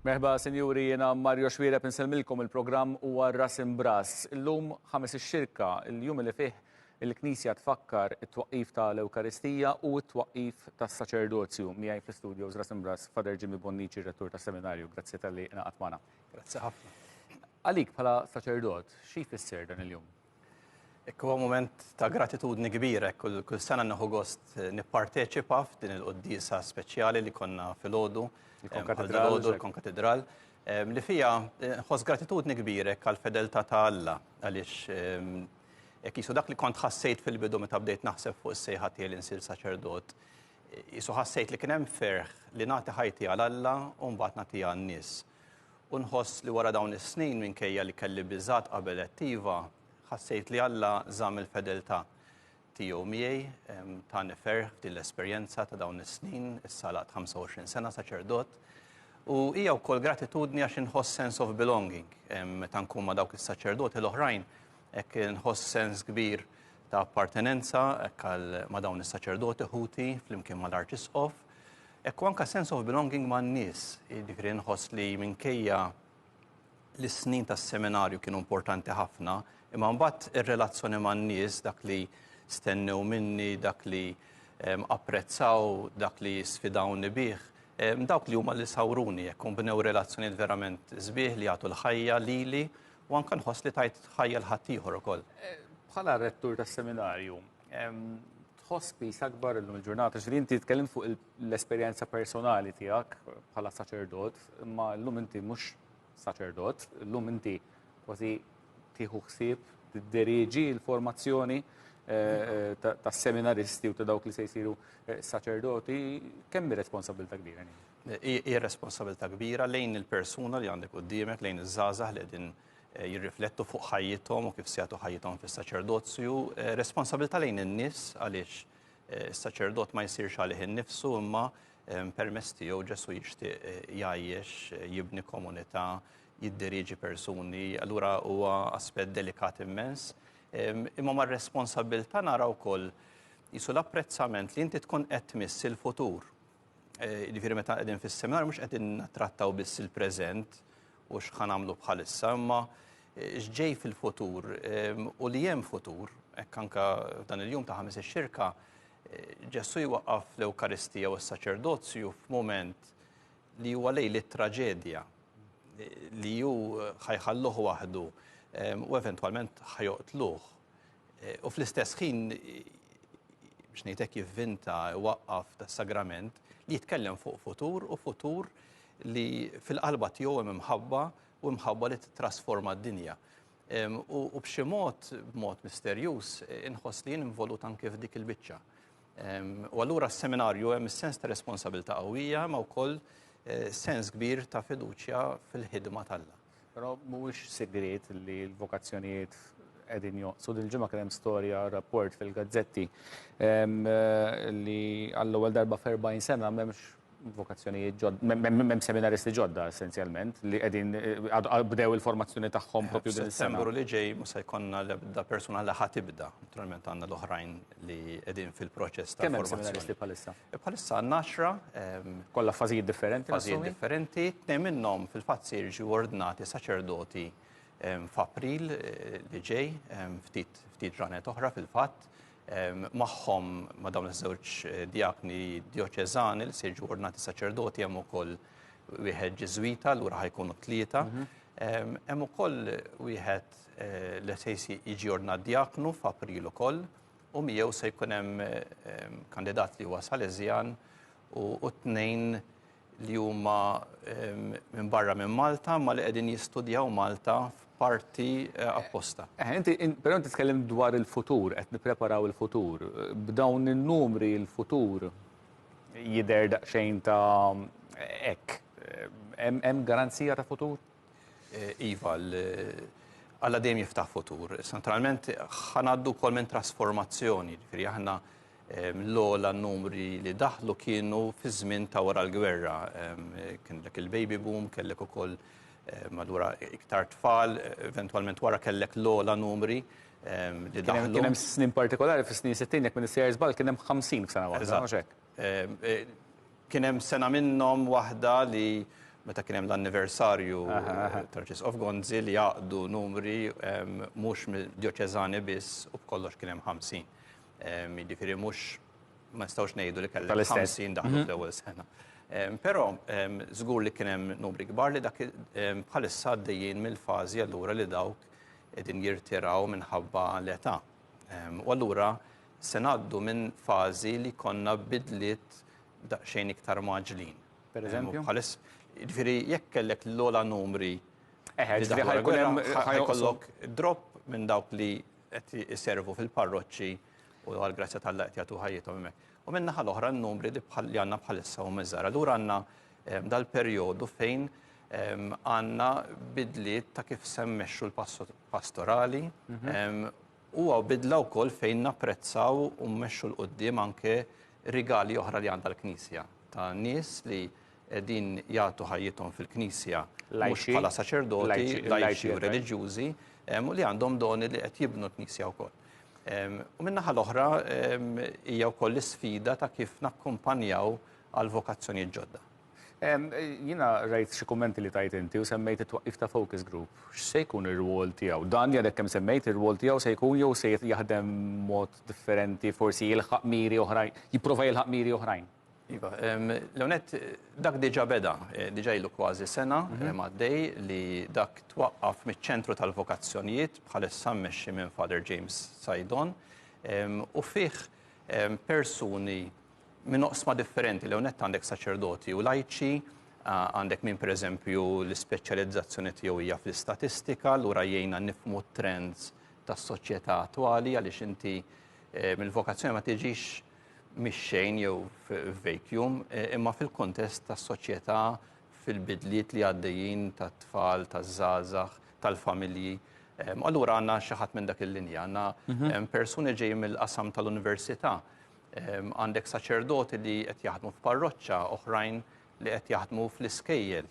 Merħba sinjuri jiena Mario Xwireb insellmilkom il-programm huwa Ras Imbras. Illum ħames ix-xirka, il-jum li fih Il-Knisja tfakkar it-twaqqif ta' l-Ewkaristija u t-twaqqif tas-saċerdozju. Miegħi fl-istudio Żras Imbras, Father Jimmy Bonnici, Rettur tas-Seminarju. Grazzi talli ingħaqadt magħna. Grazzi ħafna. Għalik bħala saċerdot, xi jfisser dan il-jum? Hekk huwa mument ta' gratitudni kbira, hekk kull, kull sena nieħu gost nipparteċipa f'din il-quddiesa speċjali li konna filgħodu, il-Konkatedral, il-Konkatedral, li fija nħoss gratitudni kbira hekk għall-fedeltà ta' Alla għaliex Jekk qisu dak li kont ħassejt fil-bidu meta bdejt naħseb fuq is-sejħa tiegħi li nsir saċerdot, qisu ħassejt li kien hemm ferħ li nagħti ħajti għal Alla u mbagħad nagħtiha għan-nies. U nħoss li wara dawn is-snin minkejja li kelli biżgħat qabel għedt iva, ħassejt li Alla żamm il-fedeltà tiegħu miegħi, tani ferħ f'din l-esperjenza ta' dawn is-snin, issa laqt 25 sena saċerdot. U hija wkoll gratitudni għax inħoss sense of belonging meta nkun ma' dawk is-saċerdoti l-oħrajn Hekk inħoss sens kbir ta' appartenenza hekk għal ma' dawn is-saċerdoti ħuti flimkien mal-Arċisqof. Hekk anka sense of belonging man-nies, jiġifieri nħoss li minkejja li s-snin tas-seminarju kienu importanti ħafna, imma mbagħad ir-relazzjoni man-nies dak li stennew minni, dak li ehm, apprezzaw, dak li sfidawni bih, ehm, dawk li huma li sawruni jekk bnew relazzjonijiet verament sbieħ li jagħtu l-ħajja lili U anke nħoss li tajt ħajja l-ħaddieħor ukoll. Bħala rettur tas-seminarju, tħoss pis akbar illum il-ġurnata, xi inti tkellem fuq l-esperjenza personali tiegħek bħala saċerdot, imma llum inti mhux saċerdot, llum inti kważi tieħu ħsieb tidderieġi l-formazzjoni eh, eh, tas-seminaristi u ta' dawk li se jsiru eh, saċerdoti, kemm responsabilità kbira? Hija responsabilità kbira lejn il-persuna li għandek quddiemek, lejn iż-żgħażagħ li qegħdin eh, jirriflettu fuq ħajjithom u kif se jagħtu ħajjithom fis-saċerdozju, eh, responsabilità lejn in-nies għaliex eh, is-saċerdot ma jsirx għalih innifsu imma permess tiegħu Ġesu jixtieq jgħajjex, jibni komunità, jiddirieġi persuni, allura huwa aspett delikat immens. Imma mar responsabilità naraw wkoll jisu l-apprezzament li inti tkun qed tmiss il-futur Jiġifieri meta qegħdin fis-seminar mhux qegħdin nattrattaw biss il-preżent u x'ħa nagħmlu bħalissa, imma x'ġej fil-futur u li hemm futur, hekk anke f'dan il-jum ta' Ħamis ix-Xirka, Ġesù jwaqqaf l-Ewkaristija u s-saċerdozju f'mument li huwa lejl it-traġedja li hu ħajħalluh waħdu u eventwalment ħajoqtluh. u fl-istess ħin biex ngħid hekk jivvinta waqqaf tas-sagrament li jitkellem fuq futur u futur li fil-qalba tiegħu hemm imħabba u imħabba li titrasforma d-dinja. U b'xi mod, b'mod misterjuż, inħoss li jien involut anke f'dik il-biċċa. U allura s-seminarju hemm is-sens ta' responsabilità qawwija ma' wkoll eh, sens kbir ta' fiduċja fil-ħidma tal-la. Però mhuwiex sigriet li l-vokazzjonijiet qegħdin jonqsu. Dil-ġimgħa kien hemm storja rapport fil-gazzetti li għall-ewwel darba f'40 sena m'hemmx vokazzjonijiet ġodda, m'hemm seminaristi ġodda essenzjalment li qegħdin bdew il-formazzjoni tagħhom propju din is-sena. Sembru li ġej ma se jkollna l-ebda persuna li ħa tibda, naturalment għandna l-oħrajn li qegħdin fil-proċess ta' formazzjoni. Kemm hemm seminaristi bħalissa? Bħalissa għandna għaxra, Kollha f'fażijiet differenti, fażijiet nassumi? differenti, tnejn minnhom fil-fatt se jiġu ordnati saċerdoti em, f'April eh, li ġej, em, ftit ftit ġranet oħra fil-fatt, em, magħhom ma' dawn iż-żewġ eh, diakni dioċeżani li se jiġu ordnati saċerdoti hemm ukoll wieħed Ġiżwita, lura ħajkunu tlieta. Em, Hemm ukoll wieħed eh, li se jsi- jiġi ordnat diaknu f'April ukoll, u miegħu se jkun hemm kandidat li huwa Salesian u tnejn li huma minn barra minn Malta ma li qegħdin jistudjaw Malta f'parti eh, apposta. Eh, inti però inti tkellem dwar il-futur, qed nippreparaw il-futur. B'dawn in-numri il-futur jidher daqsxejn ta' hekk. Eh, hemm garanzija ta' futur? Iva, Alla dejjem jiftaħ futur. Naturalment, ħanaddu kol minn trasformazzjoni, ġifiri aħna ehm, l-ola numri li daħlu kienu fi żmien ta' wara l-gwerra. Ehm, kien dak il-baby boom, kellek ukoll ehm, madwar iktar tfal, eventualment wara kellek l-ola numri li daħlu. Kien hemm snin partikolari fis-snin 60 jekk minn is-CRS bal kien hemm 50 f'sena waħda. Kien hemm sena minnhom waħda li meta kien hemm l-anniversarju tal-Arċisqof Gonzi li għaqdu numri mhux djoċeżani biss u b'kollox kien hemm ħamsin. Jiġifieri mhux ma nistgħux ngħidu li kellek ħamsin daħlu fl-ewwel sena. Però żgur li kien hemm numri kbar li dak bħalissa għaddejjin mill-fażi allura li dawk qegħdin jirtiraw minħabba l-età. U allura se ngħaddu minn fażi li jkollna bidliet daqsxejn iktar mgħaġġlin. Pereżempju? Jiġifieri jekk kellek l-ogħla numri ħajkollok drop minn dawk li qed iservu fil-parroċċi u għall-grazzja tal-Alla qed jagħtu ħajjithom hemmhekk. U min-naħa l-oħra n-numri li għandna bħalissa huma żgħar. Allura għandna dal-perjodu fejn għandna bidliet ta' kif se mmexxu l-pastorali Huwa bidla wkoll fejn napprezzaw u mmexxu 'l quddiem anke rigali oħra li għandha l-Knisja, ta' nies li qegħdin jagħtu ħajjithom fil-Knisja mhux bħala saċerdoti, lajċi u reliġjużi, u li għandhom doni li qed jibnu l-Knisja wkoll. U min-naħa l-oħra hija wkoll l-isfida ta' kif nakkumpanjaw għall-vokazzjonijiet ġodda. Jiena rajt xi kummenti li tajt inti u semmejt it-twaqqif ta' focus group. X'se jkun ir-rwol tiegħu? Dan li għadek kemm semmejt ir-rwol tiegħu se jkun jew se jaħdem mod differenti forsi jilħaq miri oħrajn, jipprova jilħaq miri oħrajn? Iva, l-ewwel nett dak diġà beda, diġà ilu kważi sena għaddej li dak twaqqaf miċ-Ċentru tal-Vokazzjonijiet bħalissa mmexxi minn Father James Saidon u fih persuni, minn oqsma differenti l nett għandek saċerdoti u lajċi, għandek minn per eżempju l-ispeċjalizzazzjoni tiegħu hija fl-istatistika, lura jgħinna nifmu trends tas-soċjetà attwali għaliex inti eh, mill-vokazzjoni ma tiġix mix-xejn jew vacuum, eh, imma fil-kontest tas-soċjetà fil-bidliet li għaddejjin tat-tfal, taż-żgħażagħ, tal-familji. Allura għandna xi ħadd minn dak il-linja, għandna mhm. persuni ġej mill-qasam tal-università Għandek saċerdoti li qed jaħdmu f'parroċċa, oħrajn li qed jaħdmu fl-iskejjel.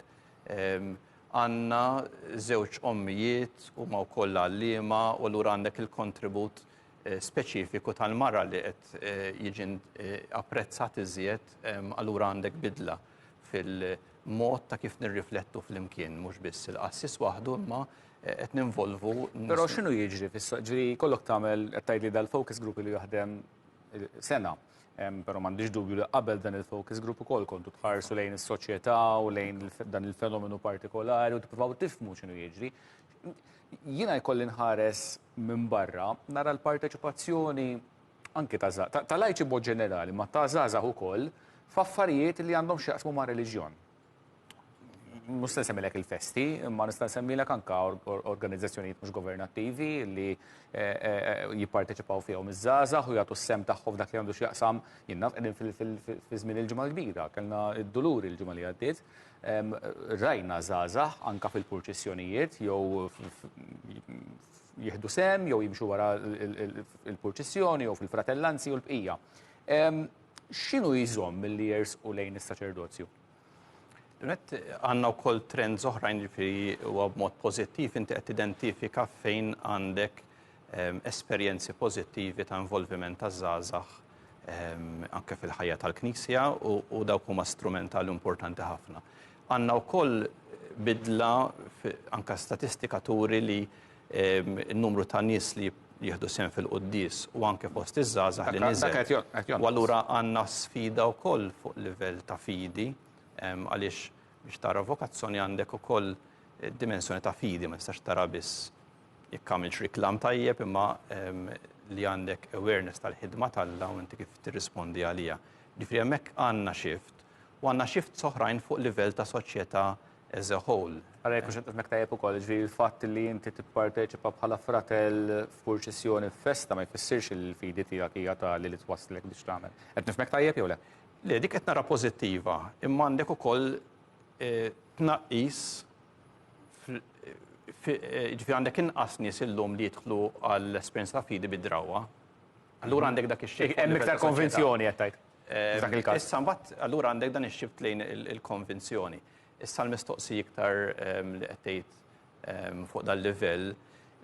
Għandna żewġ ommijiet u ma wkoll għalliema u lura għandek il-kontribut eh, speċifiku tal-mara li qed eh, jiġi eh, apprezzat iżjed allura għandek bidla fil-mod ta' kif nirriflettu fl-imkien, mhux biss il-qassis waħdu imma qed ninvolvu. Però x'inhu jiġri fis-soq? Ġri kollok tagħmel qed tgħidli dal-focus group li jaħdem sena. Pero m'għandix dubju li qabel dan il-focus group ukoll kontu tħarsu lejn is-soċjetà u lejn dan il-fenomenu partikolari u tippruvaw tifmu x'inhu jiġri. Jiena jkolli nħares minn barra nara l-parteċipazzjoni anki ta' ta' lajċi mod ġenerali, ma ta' żgħażagħ ukoll f'affarijiet li għandhom x'jaqsmu ma' reliġjon. mhux se semmilek il-festi, imma nista' semmilek anka organizzazzjonijiet mhux governattivi li eh, eh, eh, jipparteċipaw fihom iż-żgħażagħ u jagħtu s-sem tagħhom dak li għandu x'jaqsam jinnaf qegħdin fi żmien il-ġimgħa l-kbira, kellna d-dulur il-ġimgħa li għaddiet. Rajna żgħażagħ anka fil-purċissjonijiet jew jieħdu sem jew jimxu wara il-purċissjoni jew fil-fratellanzi u l-bqija. X'inhu jżomm milli jersqu lejn is-saċerdozju? Net għandna wkoll trends oħrajn ġifieri huwa b'mod pożittiv inti qed tidentifika fejn għandek ehm, esperjenzi pożittivi ta' involviment ta' żgħażagħ Ehm, anke fil-ħajja tal-Knisja u dawk huma strumentali importanti ħafna. Għandna wkoll bidla anke statistika turi li in-numru ta' nies li jieħdu sehem fil-quddies u anke fost iż-żgħażagħ li niżel. U allura għandna sfida wkoll fuq livell ta' fidi għaliex biex tara vokazzjoni għandek ukoll dimensjoni ta' fidi, ma tistax tara biss jekk għamiltx riklam tajjeb imma li għandek awareness tal-ħidma t'Alla u inti kif tirrispondi għaliha. Ġifieri hemmhekk għandna xift u għandna shifts oħrajn fuq livell ta' soċjetà as a whole. Ara jekk hux qed nifhmek tajjeb ukoll, jiġifieri l-fatt li inti tipparteċipa bħala fratell f'purċissjoni f'festa ma jfissirx li l-fidi tiegħek hija tali li twasslek biex tagħmel. Qed nifhmek tajjeb jew le? Le, dik qed nara pożittiva, imma għandek ukoll tnaqqis fi, jiġifieri għandek inqas nies illum li jidħlu għall-esperjenza ta' fidi bid-drawwa. Allura għandek dak ix-xejn. Hemm iktar konvinzjoni qed tgħid? F'dak il-każ. Issa mbagħad allura għandek dan ix-xift lejn il-konvinzjoni. Issa l-mistoqsija iktar li qed tgħid fuq dal-livell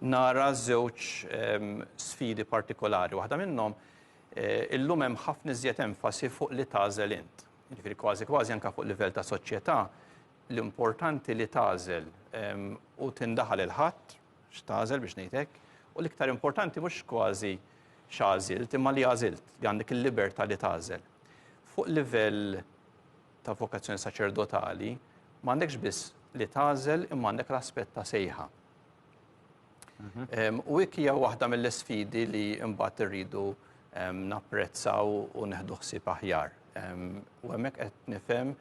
nara żewġ sfidi partikolari. Waħda minnhom illum hemm ħafna iżjed enfasi fuq li tagħżel int. Jiġifieri kważi kważi anke fuq livell ta' soċjetà l-importanti li tagħżel u tindaħal il-ħadd x'tagħżel biex ngħid hekk u l-iktar importanti mhux kważi x'għażilt, imma li għażilt, li għandek il-libertà li tagħżel. Fuq livell ta' vokazzjoni saċerdotali, ma għandekx biss li tagħżel imma għandek l-aspett ta' sejħa. Mhm. U hekk hija waħda mill-isfidi li mbagħad irridu napprezzaw u neħdu ħsieb aħjar. U hemmhekk qed nifhem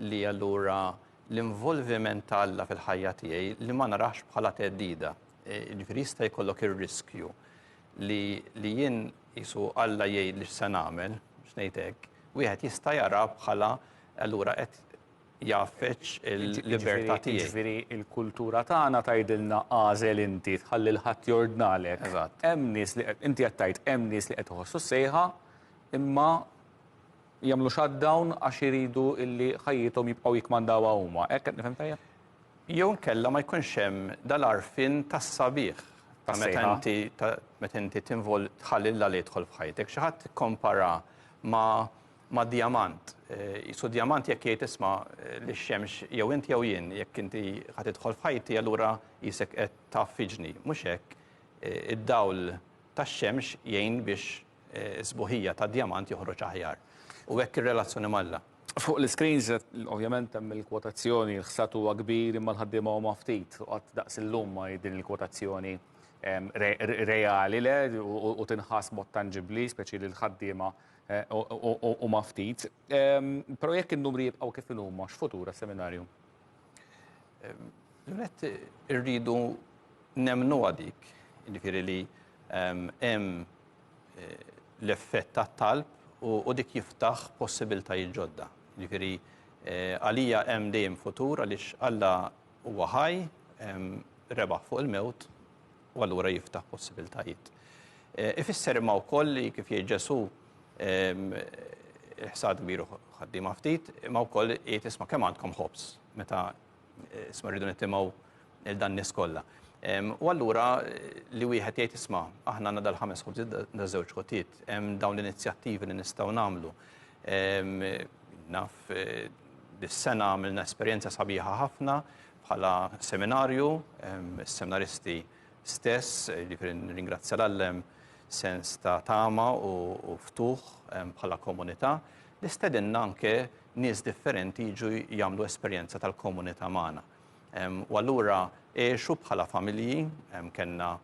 li allura l-involviment talla fil-ħajja tiegħi li ma narax bħala teddida. E, ġifieri jista' jkollok ir-riskju li li jien jisu Alla jgħid li x'se nagħmel, x'ngħid hekk, wieħed jista' jara bħala allura qed jaffeċ il-libertà tiegħi. Ġifieri il-kultura tagħna tgħidilna għażel inti tħalli l-ħadd jordnalek. Eżatt. Hemm nies li inti qed tgħid hemm nies li qed iħossu s-sejħa imma jagħmlu shutdown għax iridu illi ħajjithom jibqgħu jikkmandawha huma. Hekk qed nifhem tajjeb? Jew inkella ma jkunx hemm dal-għarfien tas-sabiħ ta' meta inti meta inti tinvol tħalli l-Alla jidħol f'ħajtek. Xi ħadd ikkompara ma' ma' djamant. Jisu eh, djamant jekk jgħid isma' eh, li xemx jew inti jew jien, jekk inti ħad idħol f'ħajti allura jisek qed taf fiġni. Mhux hekk, eh, id-dawl tax-xemx jgħin biex sbuħija tad-djamant joħroġ aħjar, u hekk ir-relazzjoni m'Alla. Fuq l-iscreens, ovvjament hemm il-kwotazzjoni, l-ħsad huwa kbir imma l-ħaddiema huma ftit, u qatt daqs illum ma hi din il-kwotazzjoni reali, le, u tinħass b'mod tanġibbli, speċi li l-ħaddiema huma ftit. Però jekk in-numri jibqgħu kif inhuma, x'futur għas-seminarju? L-għet irridu nemnu għadik, ġifiri li hemm eh, l-effett ta' talb u dik jiftaħ possibiltajiet ġodda. Ġifiri, eh, għalija hemm dejjem futur għaliex Alla huwa ħaj, rebaħ fuq il-mewt u allura jiftaħ possibiltajiet. Eh, ifisser imma wkoll li kif jgħid Ġesu ehm, il-ħsad miru ħaddiema ftit, imma wkoll jgħid isma' kemm għandkom ħobs meta eh, isma' rridu nitimgħu il dan nies kollha. Ehm, u allura eh, li wieħed jgħid isma' aħna għandna dal-ħames ħobs da żewġ ħotiet, hemm dawn l-inizjattivi li nistgħu nagħmlu. Ehm, naf dis-sena għamilna esperjenza sabiħa ħafna bħala seminarju, is-seminaristi stess, jiġifieri nirringrazzja lil hemm sens ta' tama u ftuħ bħala komunità li stedinna anke nies differenti jiġu jagħmlu esperjenza tal-komunità magħna. U allura għexu bħala familji, kellna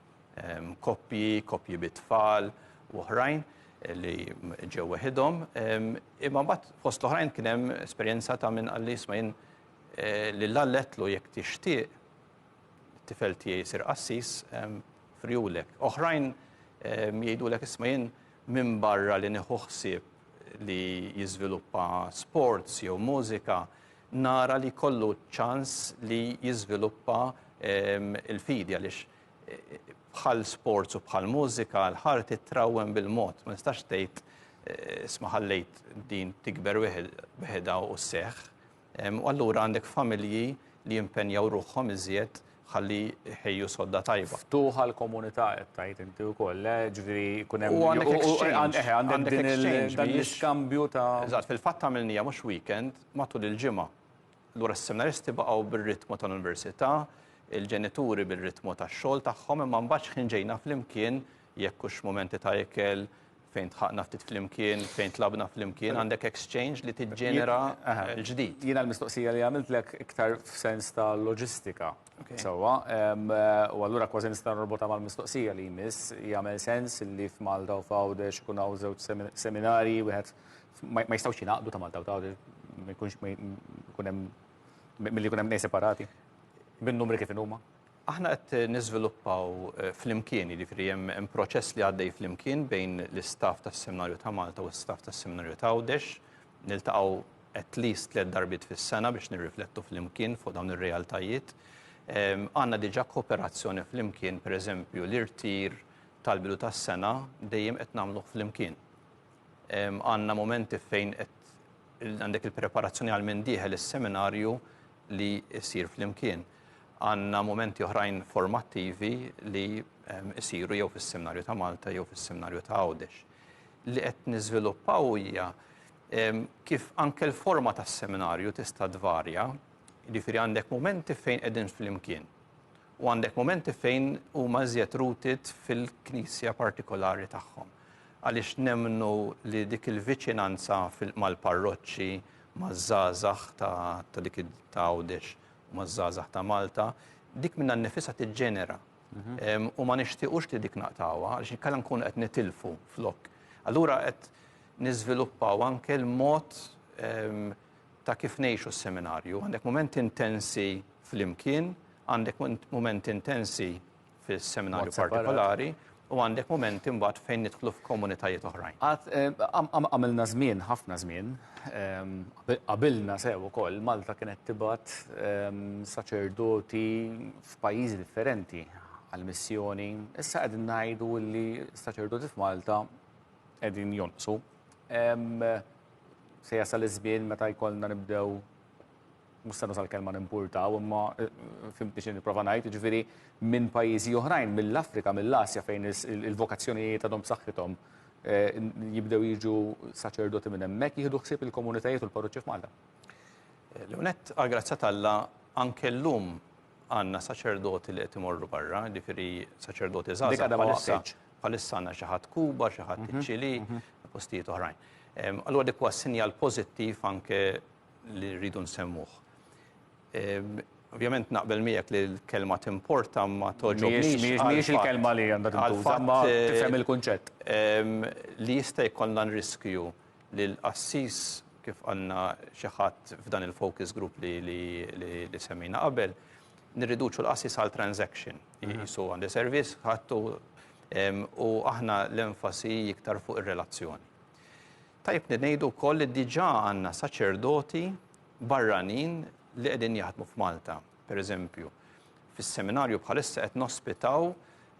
koppji, koppji bit-tfal u oħrajn li ġew weħidhom, imma mbagħad fost l-oħrajn kien hemm esperjenza ta' min qal li isma' jien Lil Alla għedtlu jekk tixtieq it-tifel tiegħi jsir qassis, frijulek. Oħrajn jgħidulek isma' jien minbarra li nieħu ħsieb li jiżviluppa sports jew mużika, nara li jkollu ċ-ċans li jiżviluppa l-fidi għaliex bħal sports u bħal mużika l-ħarg titrawwem bil-mod, ma tistax tgħid isma' ħallejt din tikber weħidha u sseħħ. U allura għandek familji li jimpenjaw ruħhom iżjed ħalli jħejju sodda tajba. Ftuħ għall-komunità qed tgħid inti wkoll, le? Jiġifieri jkun hemm. U għandek exchange. Eħe, għandek din il-exchange, dan l-iskambju ta'. Eżatt, fil-fatt għamilniha mhux weekend, matul il-ġimgħa. Allura s-seminaristi baqgħu bir-ritmu tal-università, il-ġenituri bir-ritmu tax-xogħol tagħhom, imma mbagħad xħin ġejna flimkien, jekk hux momenti ta' ikel, fejn tħaqna ftit flimkien, fejn tlabna flimkien, għandek exchange li tiġġenera l-ġdid. Jiena l-mistoqsija li għamiltlek iktar f'sens ta' loġistika. Sewwa, u allura kważi nista' norbotha mal-mistoqsija li jmiss, jagħmel sens li f'Malta u f'Għawdex ikun hawn żewġ seminarji, wieħed ma jistgħux jingħaqdu ta' Malta u ta' Għawdex, ma jkunx ikun hemm milli jkun hemm tnejn separati bin-numri kif inhuma? Aħna qed niżviluppaw flimkien, jiġifieri hemm proċess li għaddej flimkien bejn l-istaff tas-Seminarju ta' Malta u l-istaff tas-Seminarju ta' Għawdex. Niltaqgħu at least tliet darbiet fis-sena biex nirriflettu flimkien fuq dawn ir-realtajiet. Għandna diġà kooperazzjoni flimkien, pereżempju l-irtir tal-bidu tas-sena dejjem qed nagħmluh flimkien. Għandna mumenti fejn għandek il-preparazzjoni għal min dieħel is-seminarju li jsir flimkien. Għandna mumenti oħrajn formattivi li jsiru jew fis-seminarju ta' Malta jew fis-seminarju ta' Għawdex. Li qed niżviluppaw hija kif anke l-forma tas-seminarju tista' tvarja, jiġifieri għandek mumenti fejn qegħdin flimkien u għandek mumenti fejn huma iżjed rooted fil-knisja partikolari tagħhom. għaliex nemmnu li dik il-viċinanza mal-parroċċi, maż-żgħażagħ ta' dik ta' Għawdex u maż-żgħażagħ ta' Malta, dik minnha nnifisha tiġġenera. Mhm. U ma nixtiequx li dik naqtawha, għaliex inkella nkunu qed nitilfu flok. Allura qed niżviluppaw anke l-mod ta' kif ngħixu s-seminarju. Għandek momenti intensi flimkien, għandek momenti intensi fis-seminarju partikolari, u għandek mumenti mbagħad fejn nidħlu f'komunitajiet oħrajn. Għamilna żmien, ħafna żmien, qabilna sew ukoll, Malta kienet tibgħat saċerdoti f'pajjiżi differenti għall-missjoni. Issa qegħdin ngħidu li s-saċerdoti f'Malta qegħdin jonqsu. Se jasal iż-żmien meta jkollna nibdew mhux se nuża l-kelma nimpurtaw, imma fimtni xi nipprova ngħid, jiġifieri minn pajjiżi oħrajn, mill-Afrika, mill-Asja fejn il-vokazzjonijiet għadhom b'saħħithom jibdew jiġu saċerdoti minn hemmhekk jieħdu ħsieb il-komunitajiet u l-parroċċi f'Malta. L-ewnet, għall-grazzja t'Alla, anke llum għandna saċerdoti li qed imorru barra, jiġifieri saċerdoti żgħażagħ bħalissa. Bħalissa għandna xi ħadd Kuba, xi ħadd iċ-Ċilì, postijiet oħrajn. Allura dik huwa sinjal pożittiv anke li rridu nsemmuh. Ovvjament naqbel miegħek li l-kelma timporta ma toġobniex. Mhijiex il-kelma li għandha tintuża, ma tifhem eh, il-kunċett. Ehm, li jista' jkollna riskju li l-qassis kif għandna xi ħadd f'dan il-focus group li li semmina qabel, nirriduċu l-qassis għal transaction. Mhm. Jisu għandi servizz, ħattu ehm, u aħna l-enfasi iktar fuq ir-relazzjoni. Tajjeb li ngħidu wkoll li diġà għandna saċerdoti barranin li qegħdin jaħdmu f'Malta. Per eżempju, fis-seminarju bħalissa qed nospitaw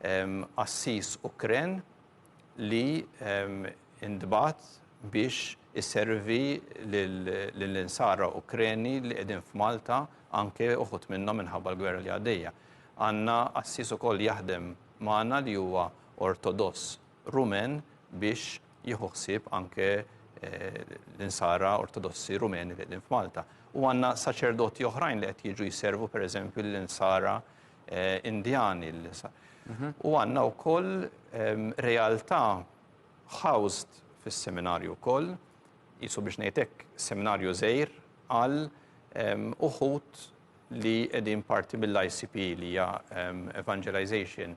ehm, qassis Ukren li ehm, indbat biex iservi lill-insara Ukreni li qegħdin f'Malta anke uħut minnhom minħabba l-gwerra li għaddejja. Għandna qassis ukoll jaħdem magħna li huwa ortodoss Rumen biex jieħu ħsieb anke l-insara ortodossi rumeni li qegħdin f'Malta. U għandna saċerdoti oħrajn li qed jiġu jservu pereżempju l-insara eh, Indjani. Mhm. U għandna wkoll ehm, realtà housed fis-seminarju wkoll, jisu biex ngħidlek seminarju żejr għal ehm, uħut li qegħdin parti mill-ICP li hija ehm, Evangelization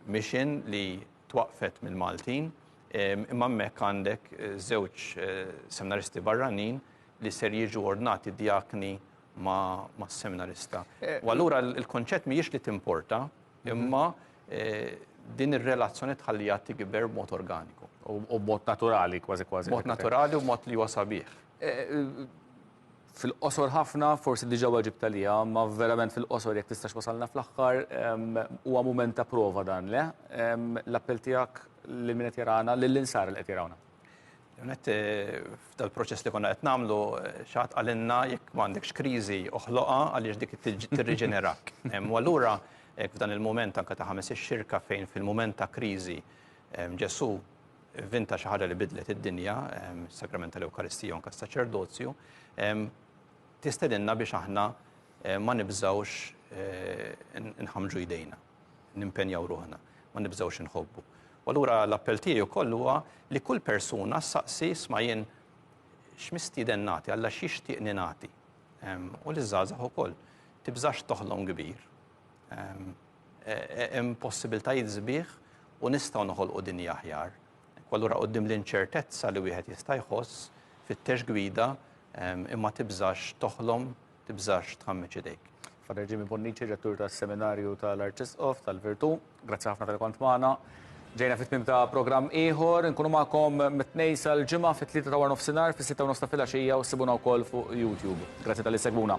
Mission li twaqqfet mill-Maltin imma hemmhekk għandek żewġ seminaristi barranin li ser jiġu ordnati djakni mas-seminarista. U allura l-kunċett mhijiex li timporta imma din ir-relazzjoni tħalliha tikber b'mod organiku. U b'mod naturali kważi kważi. B'mod naturali u b'mod li huwa sabiħ. Fil-qosor ħafna, forsi diġà weġibt għaliha, ma verament fil-qosor jekk tistax wasalna fl-aħħar, huwa mument ta' prova dan, le? L-appell tiegħek lil min qed jarana, lill-insara li qed jarawna. L-għonet, f'dal-proċess li konna qed nagħmlu, xi ħadd qalilna jekk ma għandekx kriżi oħloqha għaliex dik tirriġenerak. U allura hekk f'dan il-mument anke ta' ħames ix-Xirka fejn fil-mument ta' kriżi Ġesù, Vinta xi ħaġa li bidlet id-dinja, is-Sagrament tal-Ewkaristija u anke s-Saċerdozju, tistedinna biex aħna ma nibżgħux nħammġu jdejna, nimpenjaw ruħna, ma nibżgħux inħobbu. U allura l-appell tiegħi wkoll huwa li kull persuna saqsi sma' jien x'mistieden nagħti, Alla x'jixtieqni nagħti. U li żgħażagħ ukoll tibżax toħlom kbir, Hemm possibiltajiet sbieħ u nistgħu noħolqu dinja aħjar. Kwalura quddiem l-inċertezza li wieħed jista' jħoss, fittex gwida, imma tibżax toħlom, tibżax tħammeġ idejk. Fra Reġimi Bonnici, Rettur tas-Seminarju tal-Arċisqof tal-Virtù. Grazzi ħafna tal-li kont magħna. Ġejna fit-tmiem ta' programm ieħor, inkunu magħkom mit-tnejn sal-ġimgħa fit-tlieta ta' warnofsinhar, fis-sitta u nofs ta' filgħaxija u ssibuna wkoll fuq YouTube. Grazzi tal-li segwuna.